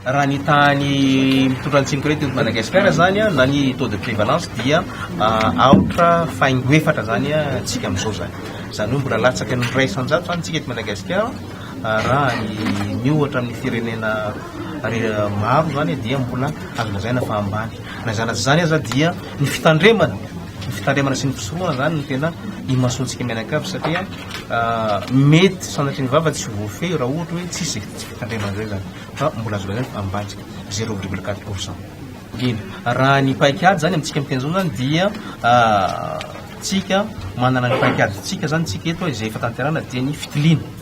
Raha ny tahan'ny mitondra ny tsinokirety eto Madagasikara zany na ny taux de prévalence dia aotra faingo efatra zany tsika amin'izao zany. Zany hoe mbola latsaka ny iray isan-jato zany tsika eto Madagasikara raha ny miohatra amin'ny firenena maro zany dia mbola azo lazaina fa ambany. Na izany na tsy izany aza dia ny fitandremana Ny fitandremana sy ny fisorohana izany no tena imasoantsika mianakavy satria mety sanatria ny vava tsy voafehy raha ohatra hoe tsisy izay fitandremana izay izany fa mbola azo lazaina fa ambany zero virgule quatre pour cent. Eny, raha ny paikady izany amintsika miteny izao izany dia tsika manana ny paikadintsika izany tsika eto izay efa tanterahina dia ny fitiliana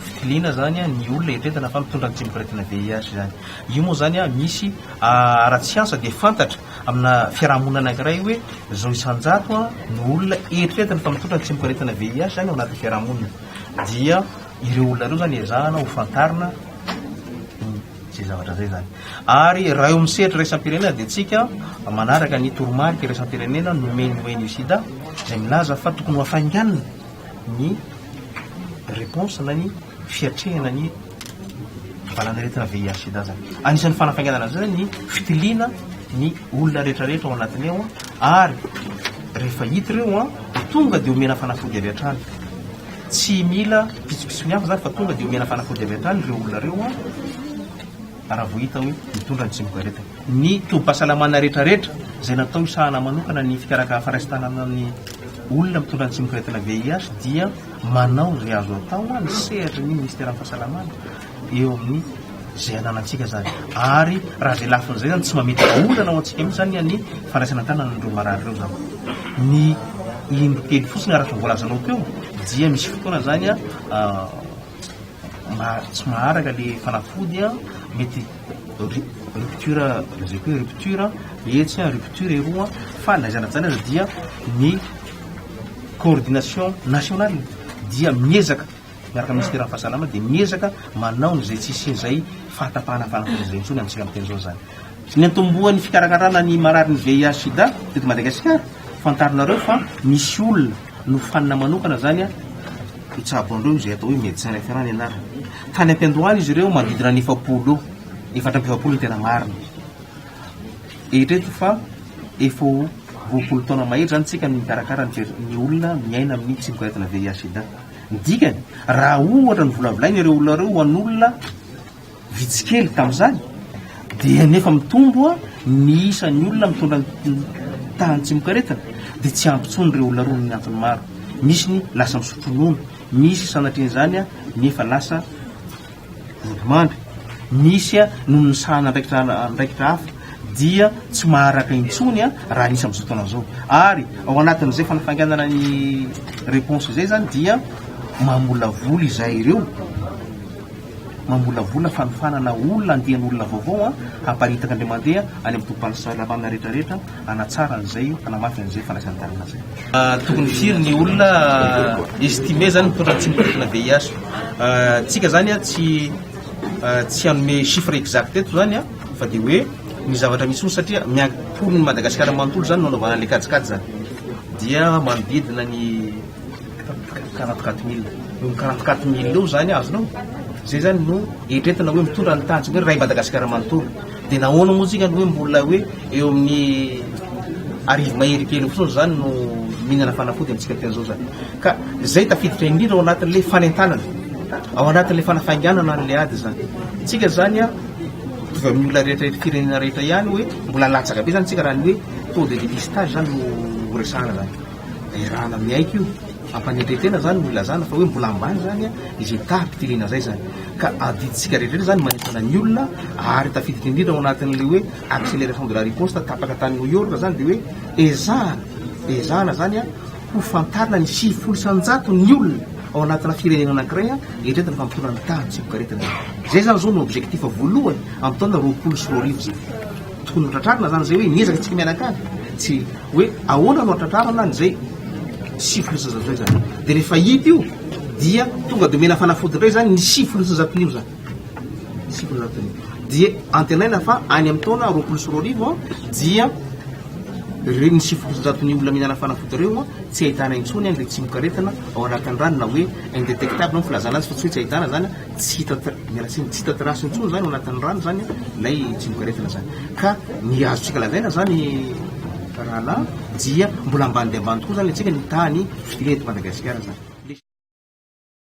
fitiliana izany ny olona eritreretina fa mitondra ny tsy mikorentana VIH izany. Io moa izany misy ara-tsiansa dia fantatra. Amina fiarahamonina anankiray hoe izao isan-jato no olona eritreretina fa mitondra ny tsimok'aretina VIH izany ao anatin'ny fiarahamonina dia ireo olona ireo izany ezahana ho fantarina izay zavatra izay izany. Ary raha eo amin'ny sehatra iraisam-pirenena dia tsika manaraka ny toromarika iraisam-pirenena nomen'ny ONU Sida izay milaza fa tokony ho hafainganina ny réponse na ny fiatrehana ny valanaretina VIH-sida zany. Anisan'ny fanafainganana an'izay zany ny fitiliana ny olona rehetrarehetra ao anatiny ao ary rehefa hita ireo an dia tonga dia omena fanafody avy hatrany. Tsy mila pitsopitsony hafa zany fa tonga dia omena fanafody avy hatrany ireo olona ireo an raha vao hita hoe mitondra ny tsimok'aretina. Ny tobim-pahasalamana rehetrarehetra izay natao hisahana manokana ny fikaraka faraisitanana ny olona mitondra ny tsimok'aretina VIH dia Manao izay azo atao hoa ny sehatry ny Ministeran'ny Fahasalamana eo amin'ny izay ananantsika izany. Ary raha izay lafiny izay izany tsy mametraka olana ho antsika mihitsy izany ny fandraisana an-tanana an'ireo marary ireo izany. Ny indro telo fotsiny araka ny voalazanao teo dia misy fotoana izany tsy maharaka ilay fanafody, mety rupture lazaiko hoe rupture etsy, rupture eroa fa na aiza na aiza dia ny coordination nationale dia miezaka miaraka amin'ny Minisiteran'ny fahasalama dia miezaka manao izay tsy hisian'izay fahatapahana fanafoanan'izay intsony amintsika amin'izao izany. Ny niantombohan'ny fikarakarana ny mararin'ny VIH sida teto Madagasikara, fantarinareo fa misy olona nofanina manokana izany hitsabo an'ireo izay atao hoe médecin référent ny anarany. Tany am-piandohana izy ireo manodidina ny efapolo eo, efatra amby efapolo ny tena marina. Eritrereto fa efa ho roapolo taona mahery izany isika no mikarakara ny Church ny olona miaina amin'ny tsy miboahetina VIH-Sida. Ny dikany, raha ohatra novolavolain'ireo olona ireo ho an'olona vitsy kely tamin'izany, dia nefa mitombo ny isan'ny olona mitondra ny tahan'ny tsimokaretina, dia tsy ampy intsony ireo olona ireo noho ny antony maro. Misy ny lasa misotro ronono, misy sanatrian'izany nefa lasa. Volomandry, misy noho ny misahana andraikitra andraikitra hafa dia tsy maharaka intsony raha misy amin'izao taona izao. Ary ao anatin'izay fanafainganana ny réponse izay izany dia mamolavola izahay ireo, mamolavola fanofanana olona andian'olona vaovao hamparitaka indray mandeha any amin'ny tobim-pandraisam-pahasalamana rehetrarehetra. hanatsara an'izay, hanamafy an'izay fandraisan-tanana izay. Tokony firy ny olona estimé zany mitondra ny tsindrim-pirenena VIH? Tsika zany tsy tsy hanome chiffre exact eto zany fa dia hoe ny zavatra misy foana satria miankohoana ny Madagasikara manontolo zany no hanaovana an'ilay kajikajy zany dia manodidina ny quarante quatre mille eo quarante quatre mille eo zany azonao zay zany no eritreretina hoe mitondra ny tanjona hoe ray Madagasikara manontolo. Dia nahoana moa tsika no hoe mbola hoe eo amin'ny arivo mahery kely fotsiny izany no mihinana fanafody amintsika tamin'izao izany. Ka izay tafiditra indrindra ao anatin'ilay fanentanana, ao anatin'ilay fanafainganana an'ilay ady izany. Tsika izany a, mitovy amin'ny olona rehetra eto firenena rehetra ihany hoe mbola latsaka be izany tsika raha ny hoe taux de dépistage izany no resahana izany. Derana miaiky io, fampanetren-tena zany no ilazana fa hoe mbola ambany zany izay taham-pitiliana zay zany ka adidintsika rehetra zany manentana ny olona ary tafiditra indrindra ao anatin'le hoe acceleration de la riposte tapaka tany New York zany de hoe ezahana ezahana zany ho fantarina ny sivifolo isan-jato ny olona ao anatina firenena anankiray eritreretina fa mitondra ny tahan'ny tsibokaretina zay zany zao no objectif voalohany amin'ny taona roapolo sy roa arivo zay. Tokony ho tratrarina zany zay hoe miezaka tsika mianakavy tsy hoe ahoana no hatratrarana an'izay sivy sy zato zay zany de rehefa hita io dia tonga de omena fanafody indray zany ny sivy sy zato io zany sivy sy zato io dia antenaina fa any amin'ny taona roapolo sy roa arivo an dia ireo ny sivy sy zato ny olona mihinana fanafody ireo an tsy ahitana intsony an le tsimokaretina ao anatin'ny rano na hoe indetectable ny filazana azy fa tsy hoe tsy ahitana zany tsy hita miala tsiny, tsy hita trace intsony zany ao anatin'ny rano zany ilay tsimokaretina zany ka ny azontsika lazaina zany rahalahy dia mbola ambany dia ambany tokoa zany le tsika ny tahan'ny fitiliana eto Madagasikara zany.